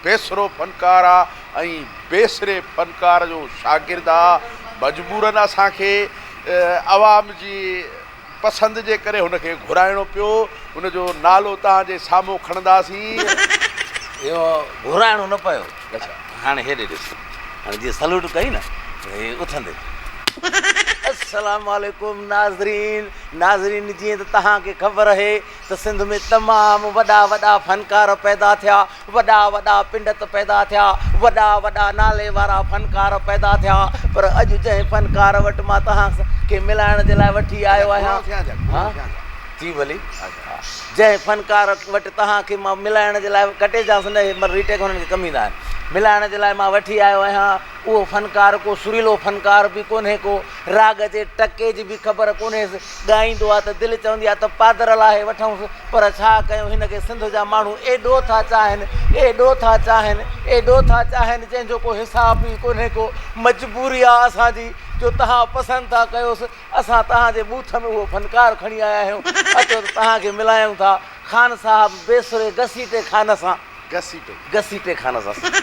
بيسرو فنڪار آ ۽ بيسري فنڪار جو شاگرد آ مجبورن اسان کي عوام جي پسند جي ڪري هن کي گهرائڻو پيو هن جو نالو توهان جي سامهون کڻنداسين. اهو گهرائڻو نه پيو هاڻي هيڏي ڏس هاڻي جيئن سلوٽ ڪئي نه ته هي اٿندي السلام عليڪم ناظرين ناظرين جيئن ته توهان کي خبر اهي ته سنڌ ۾ تمام وڏا وڏا فنڪار پيدا ٿيا، وڏا وڏا پنڊت پيدا ٿيا، وڏا وڏا نالي وارا فنڪار پيدا ٿيا، پر اڄ جنهن فنڪار وٽ مان توهان کي ملائڻ جي لاء وٺي آيو آهيان، جي ڀلي، جنهن فنڪار وٽ توهان کي مان ملائڻ جي لاء ڪٽي جانس نه هي ري ٽيڪ هنن کي ڪم ايندا آهن، ملائڻ جي لاء مان وٺي آيو آهيان، اهو فنڪار ڪو سريلو فنڪار به ڪونهي ڪو راڳ جي ٽڪي جي به خبر ڪونهيس، ڳائيندو آ ته دل چوندي آ ته پادر لاهي وٺئونس پر ڇا ڪيون هن کي سنڌ جا ماڻهو ايڏو ٿا چاهن ايڏو ٿا چاهن ايڏو ٿا چاهن جنهن جو ڪو حساب ئي ڪونهي ڪو مجبوري آ اسان جي جو تهان پسند ٿا ڪيوس اسان تهان جي ٻوٿ ۾ اهو فنڪار کڻي آيا آهيون اچو ته تهان کي ملايون ٿا خان صاحب بي سري گسيٽي خان سان. گسيٽي. گسيٽي خانه سان سنڌي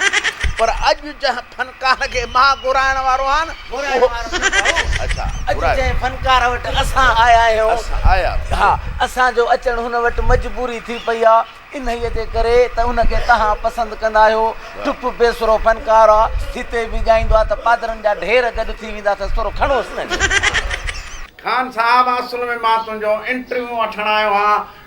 پر اڄ جنهن فنڪار کي مان گهرائڻ وارو آهيان گهرائڻ اهو وارو نه ڀائو اڇا اڄ گهرائي جنهن فنڪار وٽ اسان آيا آهيون اسان آيا آهيون ها اسان جو اچڻ هن وٽ مجبوري ٿي پئي آ انهيء جي ڪري ته ان کي تهان پسند ڪندا آهيو ڊپ بيسرو فنڪار آ جتي به ڳائيندو آ ته پادرن جا ڍير گڏ ٿي ويندا اٿس ٿورو کڻوس نه جو. خان صاحب اصل ۾ مان تنهنجو انٽرويو وٺڻ آيو آهيان